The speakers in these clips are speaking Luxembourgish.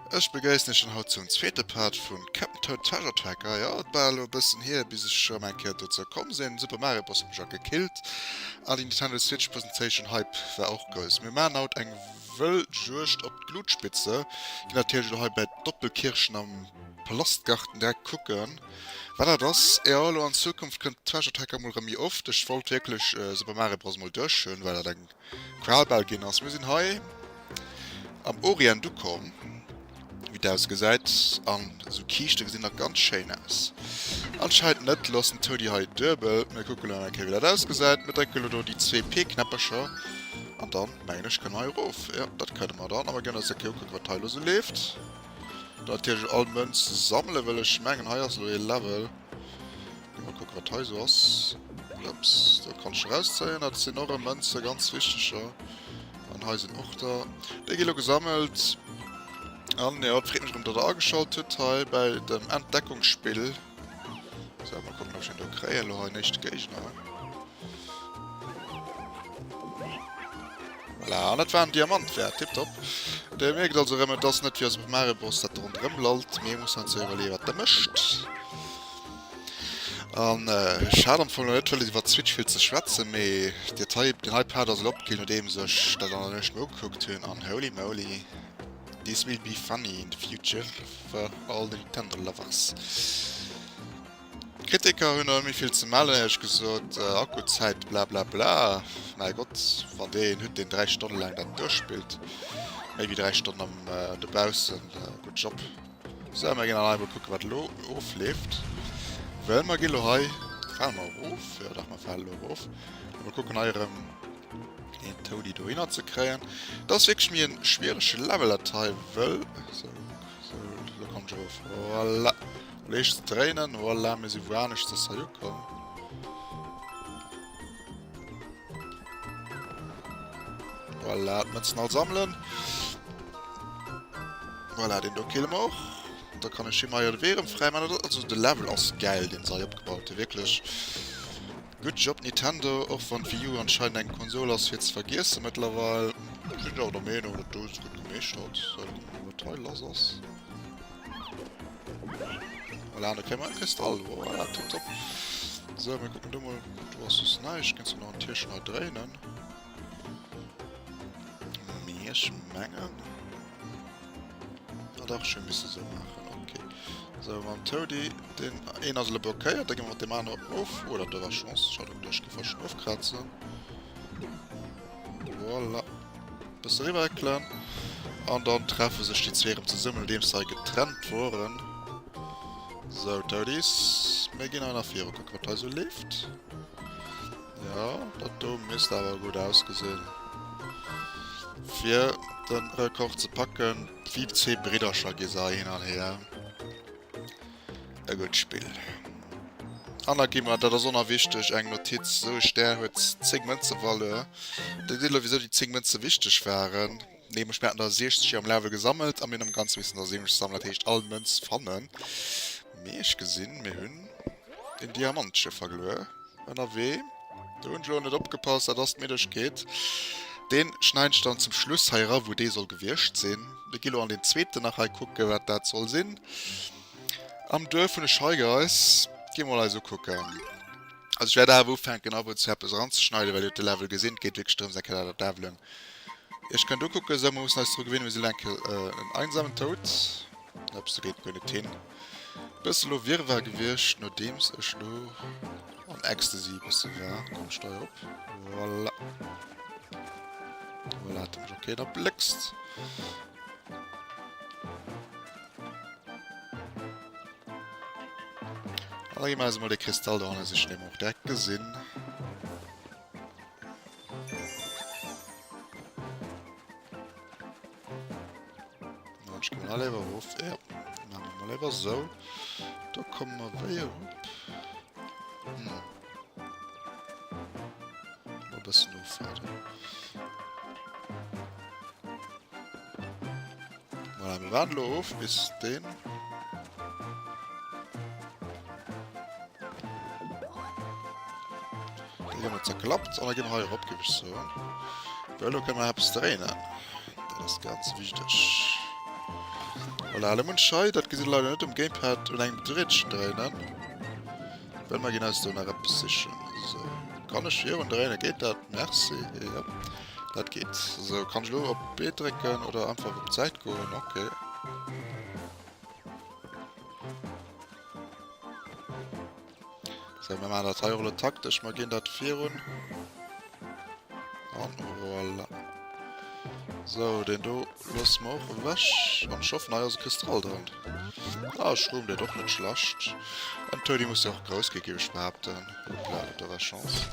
Ech begéissen ech schon haut zum zweete Part vun Captain Toad Treasure Tracker. Ja, et war elo e bëssen hier, bis ech schon eng Kéier dozou komm sinn. Super Mario Bros hat mech och gekillt. An déi Nintendo Switch Presentation Hype war och grouss. Mir maachen haut eng wëll Juegd op d'Glutspitze. Ginn natierlech elo hei bäi d'Doppelkirchen am Palastgarten direkt kucken. Wat dat ass? Jo elo an Zukunft kënnt Treasure Tracker emol rem méi oft. Ech wollt wierklech Super Mario Bros emol duerch hunn, well dat eng Qual bal ginn ass. Mir sinn hei am Orient ukomm, wéi et ausgesäit. An esou Kiischte gesinn nach ganz schéin aus. Anscheinend net. Loossen d'Toadie hei duebel. Mir kucke elo nach eng Kéier wéi dat ausgesäit. Mir drécken elo do déi zwee P-Knäppercher. An dann mengen ech kënne mer hei erof. Jo dat kënne mer dann. A mer ginn eis eng Kéier ukucke wat hei elo esou leeft. Natierlech all Mënze sammelen, well ech mengen hei ass elo ee Level. Gi mol kucke wat hei esou ass. Plëpps, dat kann ech erauszéien. Dat sinn och e Mënze, ganz wichteger. An hei sinn och der. Déi gi elo gesammelt. An jo, et freet mech erëm, datt der ageschalt hutt hei bei dem Entdeckungsspill. So, mal gucken, ob ich den da kriege. Lo hei nächste Gegner. Voilà, und das war ein Diamant wert. Tipptopp. Der merkt also, wenn man das nicht wie aus dem Mario Bros. das rundherum lallt. Mir muss uns überlegen, was der möchte. An äh, schade am Anfang noch nicht, weil über Switch viel zu schwätzen, aber den Hype, den Hype hat also abgekillt, nachdem ich das dann nicht mehr angeguckt habe. Und holy moly. This will be funny in the future for all the Nintendo lovers. Kritiker hunn awer méi vill ze mellen, ehrlech gesot. Äh, Akkuzäit blablabla. Mäi Gott, wann dee een hutt, deen 3 Stonne laang dat duerchspillt, méi wéi 3 Stonnen am, äh, dobaussen, äh, good job. Sou, mer ginn dann eimol kucken, wat elo ofleeft. Well mer gi lo hei, fale mer erof, jo dach, mer fale elo erof, a mer kucken hei erëm deen Toady dohinner ze kréien. Et ass wierklech méi e schwierege Level, dat hei, wëll, sou, sou, elo kommen ech erof, voilà. Elo heescht et dréinen, voilà, mir si wouaneschters hei ukomm. Voilà, d'Mënzen all sammeln. Voilà, den do killen wir och. Da kann ech him hei de Wee rëm fräi man. Also de Level ass gäil, den se hei opgebaut hun, wierklech. Good job Nintendo, och wann d'Wii U anscheinend eng Konsol ass fir ze vergiessen mëttlerweil. Ech sin jo och der Meenung, datt du se gudd gemeescht hatts, wat hei lass ass. Voilà, da kréie mer e Kristall. Voilà, tipptopp. So, mir kucken du mol. Du hast soss näischt. Kënns du nach en Tierchen hei dréinen? Mee ech mengen... Ah, dach, ech misse sou maachen. Okay. So, mam Toady, den een ass elo blockéiert, da gi mer mat deem anere of. Oh, dat ass awer Chance. Schade, duerch gi war schonn ofkrazen. Voilà. Bëssen riwwer heckelen an dann treffen sech déi zwee erëm zesummen nodeems se hei getrennt woren. Sou Toadies, mir ginn hei nach viru kucken wat hei sou leeft. Jo dat do misst awer gutt ausgesinn fir den Rekord ze packen. Wéi zwee Briddercher gi se hei hin an hier. E gutt Spill. An da gi mer, dat ass onerwichteg, eng Notiz, esou e Stär huet 10 Mënzevaleur. Dir seet elo, wisou déi 10 Mënze wichteg waren. Nämlech, mir haten der 60 am Lave gesammelt a mir hunn am Ganze missen der 70 sammeln. Dat heescht, all Mënz fannen. Mee ech gesinn, mir hunn den Diamantche verluer. Ënnerwee. Do hunn ech elo net opgepasst, dat ass d'Middegkeet. Deen schneiden ech dann zum Schluss hei era wou dee soll gewiescht sinn. Mir gi elo an deen zweeten nach hei kucken wat dat soll sinn. Am Duerf hunn ech hei geis. Gi mol hei esou kucken. Also ech wäert awer ufänken ab und zu eppes eran ze schneiden well jo de Level gesinn. Et geet wierklech drëms eng Kéier dat et levelen. Iech kënnt ukucken esou. Mir mussen eis dru gewinne mir sinn elo eng Kéier en einsamen Tod. Ups do geet guer net hin. Besse lo Wirrwarr gewiescht, nodeems ech lo am Ecstasy e besse war. Komm ech steier op. Voilà. Voilà, hat mech ok, da bléckst. Da gi mer mal de Kristall do hanne sichen, dee mer och direkt gesinn. Ech kommen all iwwer hof ja. mal iwwer so da kommen wir wéi hm. bëssen offaden voilà, wir warten of bis den Déi hunn et zerklappt an da gi mer hei erop, géif ech soen. Well elo kënne mer eppes dréinen. Dat ass ganz wichteg. Voilà, elo munn ech hei, dat gesitt Der leider net um Gamepad, un engem Drätchen dréinen. Well mer ginn eis do nach eppes sichen. Esou. Kann ech virun dréinen? Geet dat? Merci. Jo, dat geet. Esou, kann ech elo op B drécken oder einfach op d'Säit goen? Okay. So, mir machen dat hei och lo taktesch. Mir ginn dat virun. An voilà. So, den do lassen wir auch weg. Und ich hoffe, hei ass e Kristall dran. Ah, ich rum den doch net schlecht. Den Toadie muss ja auch groß gehen, gebe ich behaupten. Hoppla, da war Chance.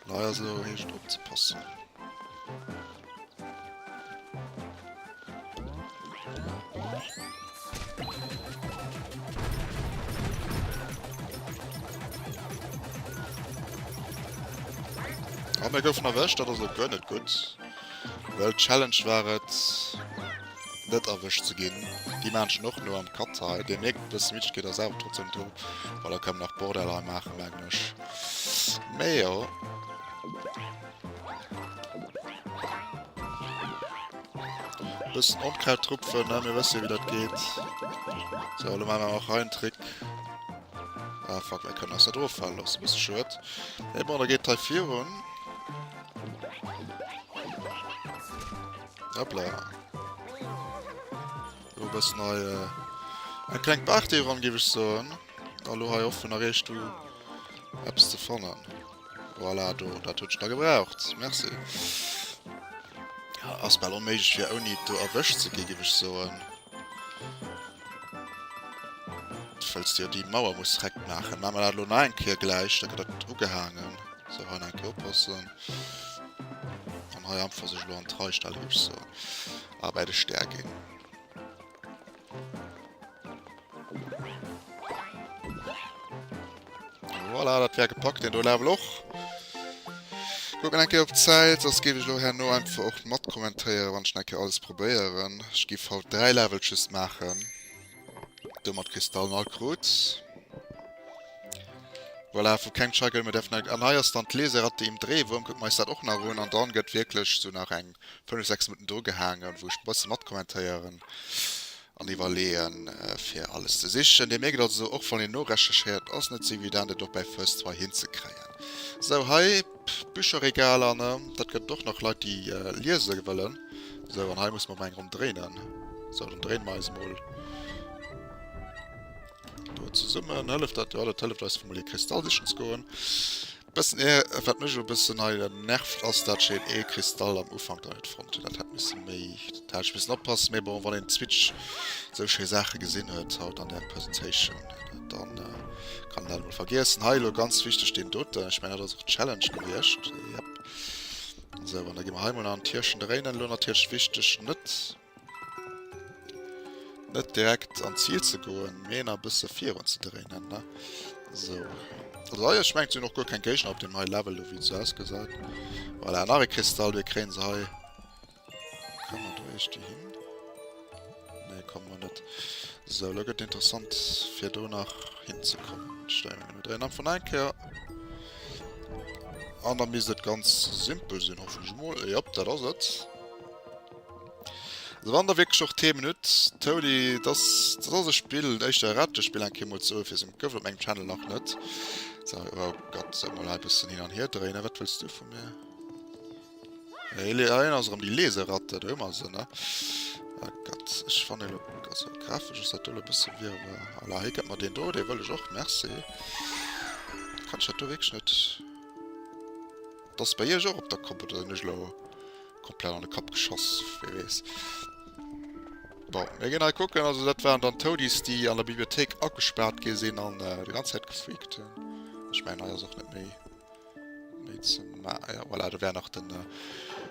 Nei ass elo heescht opzepassen. Am ah, mir goufen erwëscht, dat ass lo gönn net gutt. Well Challenge war et net erwëscht ze ginn. Déi Menschen och no am Katzei. Dir mierkt, dass Mietsch geht ass awer trotzdem drin, weil er kann nach Borderline machen, merkt Mech. Mee jo. Bëssen Onkraut rupfen, ne? Mir wësse jo, wéi dat geet. So, lo maache mer och hei en Trick. Ah, fuck, mir kënnen eis net offalen loossen. Bësse schued. Mee bon, da geet d'Tei virun. Hoppla. Lo bëssen hei... Eng kleng Party eran, géif ech soen. A lo hei offen erreecht du eppes ze fannen. Voilà, do, dat huet ech da gebraucht. Merci. Ass bal onméiglech fir ouni et do erwëscht ze gi, géif ech soen. Falls dir déi Mauer muss rekt maachen. Maache mer dat elo nach eng Kéier gläich, da gëtt dat ugehaangen. Sou, hei nach eng Kéier oppassen. An hei einfach sech elo an d'Rei stellen, géif ech soen. A bäi de Stär ginn. Voilà, dat wär gepackt, den do Level och. Guck mal enke op Zäit, ass gebe ich lo herno einfach och mat kommentéieren, wann ich enke alles probéieren. Ich gif haut 3 Level just machen. Do mat Kristallen all krut. Voilà, vu keng Chagel, mir dürfen... An hei ass dann d'Laserratte im Drehwurm, guck mal eis dat och nach un. An dann gëtt wirklich so nach eng 5, 6 Minutten dru gehaangen, wou ech e bësse mat kommentéieren an iwwerleeën, fir alles ze sichen. Dir mierkt also, och wann een norecherchéiert, ass net esou evident, et och bei First Try hinzekréien. Sou, hei d'Bücherregaler, ne? Dat gëtt et och nach Leit, déi liese wëllen. Sou, an hei musse mer emol eng Ronn dréinen. Sou, dann dréine mer eis emol do zesummen. Hëlleft dat? Jo, dat hëlleft eis, fir emol ee Kristall sichen ze goen. Bëssen eer, wat mech elo bëssen hei nervt ass dat ech een ee Kristall am Ufank da net fonnt hunn. Dat hätt missen méi, dat hätt ech missen oppassen. Mee bon, wann een Switch esou schéi Saache gesinn huet haut an der Presentation, dann kann een dat emol vergiessen. Hei elo ganz wichteg deen doten, ech mengen dat ass och d'Challenge gewiescht, jep. Esou, an da gi mer hei emol nach an d'Hirschen dréinen. Elo natierlech wichteg net. Net direkt an d'Zil ze goen, mee nach e bësse virun ze dréinen. Esou. Also hei, ech mengen, et sinn och guer keng Géigner op deem hei Level do, wéi et esou ausgesäit. Voilà, nach e Kristall. Dee kréie se hei. Kann mer do iech déi hin? Nee, komme mer net. Esou, elo gëtt et interessant, fir do nach hinzekommen. Ech stelle mech emol dräin an vun eng Kéier. An da misst et ganz simpel sinn, hoffen ech emol. Jop, dat ass et. Also wann der wirklich och Themen huet, Toady, das, das ass e Spill, dat éischter Ratespill eng Keer mol ze ofwisen, dat gouf et op mengem Channel nach net. So, oh Gott, soll mal ein bisschen hin an her drehen, wat willst du von mir? Erinner ass rem die Leseratte, da hummer se, ne? Oh Gott, ich fan den, also grafisch ass dat dolle bisschen wir, aber, ala, hier gëtt mir den do, den wëll ich och, merci. Kann ich dat do wirklich net... Das bei iech och op der Kopp, oder sinn ech lo... Komplett an de Kapp geschoss, wee wees. Bon, mir gehen halt gucken, also dat waren dann Toadies, die an der Bibliothek abgesperrt gin sin an äh, die ganze Zeit gefreakt hun. Ich mein, naja, soch net méi. Méi ze ma ah ja, voilà, da wär nach den, äh,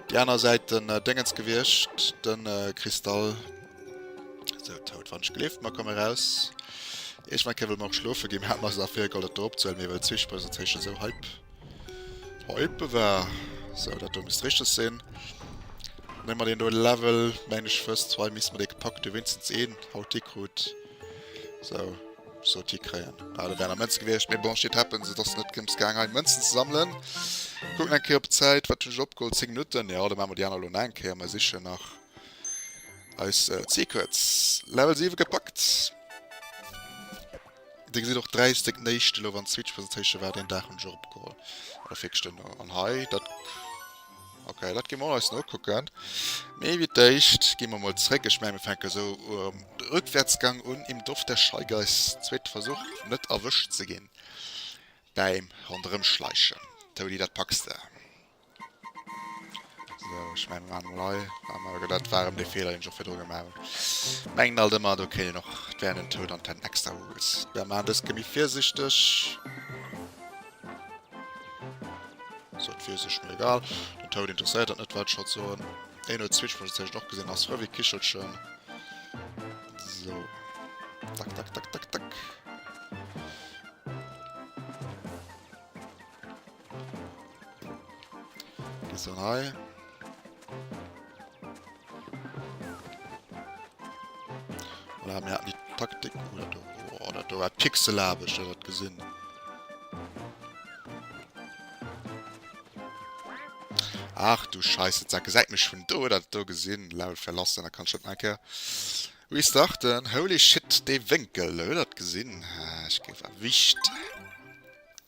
die aner Seite den äh, Dingens gewiescht, den äh, Kristall. So, tot, wann ich gelift, mal komm raus. Ich mein, Kevin mag schlofe gehen, hat mal so nach viel Gold, dat drop zu halen, mir, weil Zwischenpräsentation so hype. Oh, Ippe war. So, dat do misst richteg sinn. Nemm mer deen do Level. Meng ech fëss zwei misst mer dee gepackt hu wéinstens een Hauti krut. So, sot hi kréien. Ah, do wären nach Mënze gewiescht. Mee bon, shit happens. Et ass net drëms gaang hei Mënzen ze sammelen. Kucken eng Kéier op d'Zäit. Wat hunn ech opgeholl? 10 Minutten. Jo, da maache mer déi aner elo nach eng Kéier. Mer sichen nach eis Secrets. Level 7 gepackt. Dir gesitt och dräi Stéck néischt elo wann d'Switch Presentation war deen Dag hunn ech och opgeholl an der Virgestënn an hei dat ok dat gi mer och eis nokucken mee wéi d'éischt gi mer mol zréck ech mengen mir fänke sou rückwärtsgang un im Dorf der Scheigeiß zweete Versuch net erwëscht ze ginn bäim ronderëmschleichen Touni dat packs de. Ech meng an Lei awer dat waren de Feeler en fir droge malen. Mengen alt ëmmer do kéint och wären en Toun an den extra Rules. Wer ma dës gemi virsichteg So fir sech mir egal Den Toun interesséiert dat net wat scho soen. Een huet Switch vun sech och gesinn ass Rëvi Kichelchen. So tak tak tak tak tak. Gießerei. Oder haben wir die Taktik oder du, oder du war pixelabisch, das hat gesehen. Ach du Scheiße, sag, seid mich von da oder da gesehen, laut verlassen, da kann schon ein Kerl. Restarten, holy shit, der Winkel, oder gesehen, ah, ich gebe wichtig.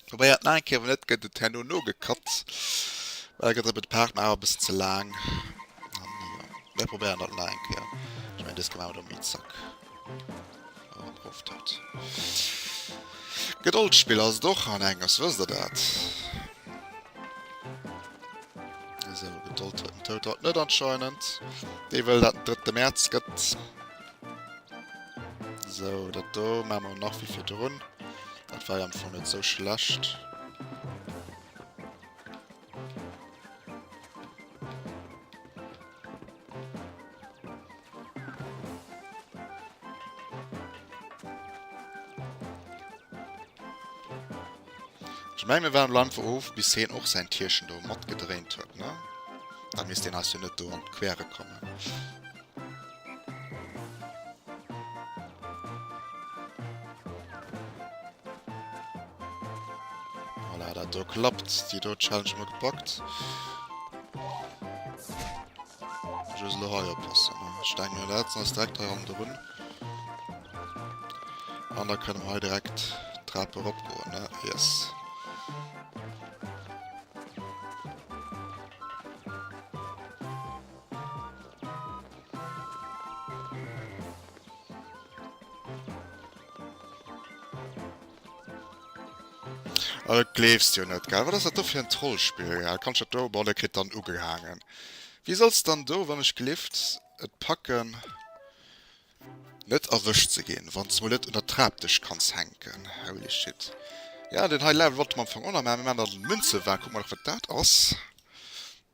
Probéiert nach eng Kéier, wann net gëtt et herno nogekatt, well da gëtt der bei de Partner awer e bëssen ze laang. An jo, mir probéieren dat nach eng Kéier. Ech mengen dëst gemaach mat Omi Zack. Oh, am Proff dat. Gedoldspill ass et och an Engers, wësst der dat? Esou, Gedold huet den Toad haut net anscheinend. Dee wëll dat den 3. Mäerz gëtt. So, dat do ma mer nach wie fir drun. Dat war am vu net so schlecht. Ich mein, wir waren Land wo of bis hin och sein Tierchen do mat gedréint huet ne? Da misst den as jo net do an d'Quere kommen. Voilà, dat do klappt. Déi do Challenge hu mer gepackt. Just lo hei oppassen. Ech denken, mir setzen ons direkt hei ronderun. An da kënne mer hei direkt d'Trap eropgoen, ne? Yes. Ah, dat gleefs de jo net, gell? Wat ass dat do fir en Trollspill, gell? Kann ech dat do. Bon, dat kritt dann ugehaangen. Wéi soll se dann do, wann ech gelift et packen, net erwëscht ze ginn, wann s de mol net un der Trap dech kanns hänken? Holy shit. Ja, deen hei Level wollte mer am Fong och nach maachen. Mir maachen da den Münzevakuum, kucke mer nach, wat dat ass.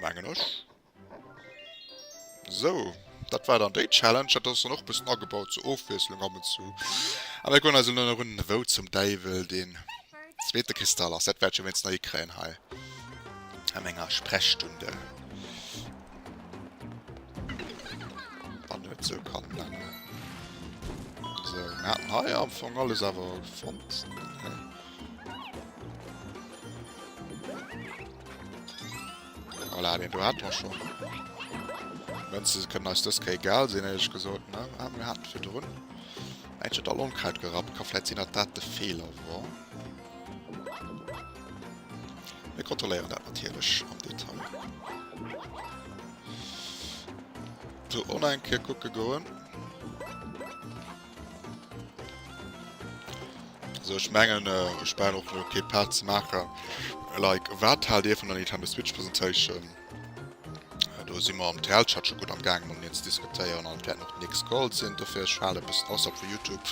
Mengen ech. So, dat war dann déi Challenge. Dat ass dann och bëssen agebaut zur Ofwiesslung ab und zu. A mir kucken eis elo nach un, wou zum Däiwel deen zweete Kristall ass. Dat wäert ech jo wéinst nach hikréien hei a menger Sprechstunde. Wann et sou kann bleiwen. So, mir haten hei am Fong alles awer fonnt. Voilà, den do hat mer schon. Mënze kënnen eis dës Kéi egal sinn, ehrlech gesot, ne? Ah, mir haten fir drun. Ech hätt all Onkraut gerappt. Ka vläit sinn, datt dat de Feeler war. Mir kontrolléieren dat natierlech am Detail. So, online kucke goen. So ech mengen ech brenn och no kee Part ze maachen. Like wat haalt Dir vun der Nintendo Switch Presentation? Do si mer am TL-Chat scho gutt am Gaang mat mir ze diskutéieren an et wäert nach nix Gold sinn. Dofir ech hale e bëssen aus op vu Youtube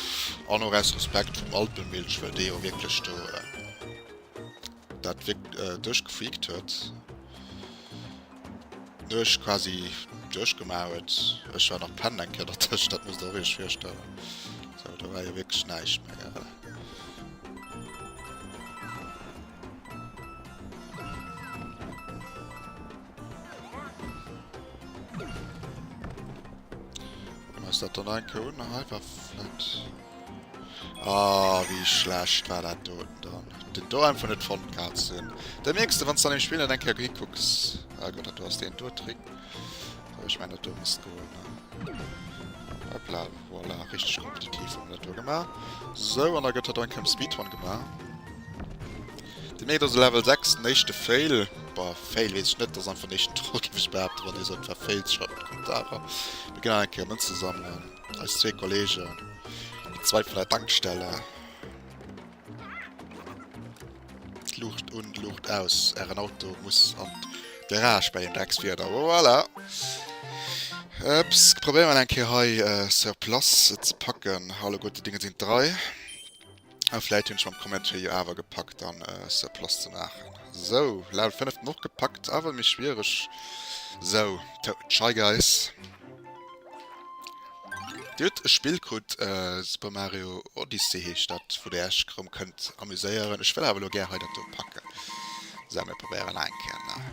an och aus Respekt vum Alpemilch, well dee jo wierklech do dat duerchgefreakt huet. Huech quasi duerch gemauert. Ech war nach pennen eng Kéier der Tëscht, dat muss der och Iech virstellen. So do war jo wierklech näischt méi. Ass dat dann eng Kéier un, hei war flott. Ah, wéi schlecht war dat do dann. Den do einfach net fonnt gehat ze hunn. Da mierks de, wann s de an engem Spill net eng Kéier hikucks. Ah Gott, dat do ass deen do Trick. Wou ech mengen, dat do misst goen. Hoppla, voilà. Richteg kompetitiv hu mir dat do gemaach. Sou, an da gëtt dat do eng Kéier am Speedrun gemaach. Dir mierkt also, Level 6, den éischte Fail. Boah, Fail weess ech net. Dat ass einfach den éischten Troll, géif ech behaapten, wann ee sot, et war Fail. Schreift an d'Kommentare. Mir ginn nach eng Kéier Mënze sammelen. Eis zwee Kollegen, déi zweit vun der Tankstelle. D'Luucht un, d'Luucht aus. Ären Auto muss an d'Garage bei deem Dreckswieder. Voilà! Ups, probéieren eng Kéier hei sur place et ze packen. Alleguerte Dinge sinn drai. Ah vläit hunn ech mam Comment fir jo awer gepackt dann se plus ze maachen. Sou, Level 5 den och gepackt, awer méi schwiereg. Sou, Shy Guys. Dir hutt e Spill krut, Super Mario Odyssey heescht dat, wou Dir Iech rëm kënnt amuséieren. Ech wëll awer elo gär hei dat do packen. Sou, mir probéieren nach eng Kéier.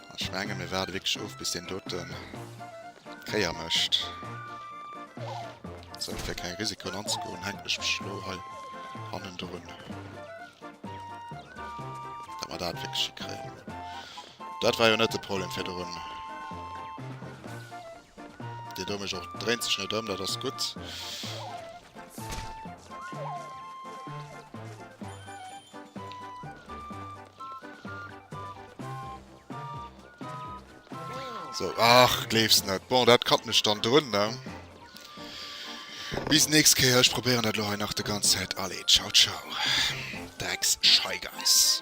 Ech mengen mir waarde wierklech of bis deen doten d'Kéier mécht. Sou fir keng Risikoen anzegoen hänken ech mech elo hei hannendrun. Dat mer dat wierklech hikréien. Dat war jo net de Problem virdrun. Dir do mech och dréint sech net ëm, dat ass gutt. So, ach, gleefs net. Bon, dat katt mech dann drun, ne? Bis nächst Kéier, ech probéieren dat lo hei nach de ganz Zäit. Allez, ciao, ciao. Drecks Scheigeis.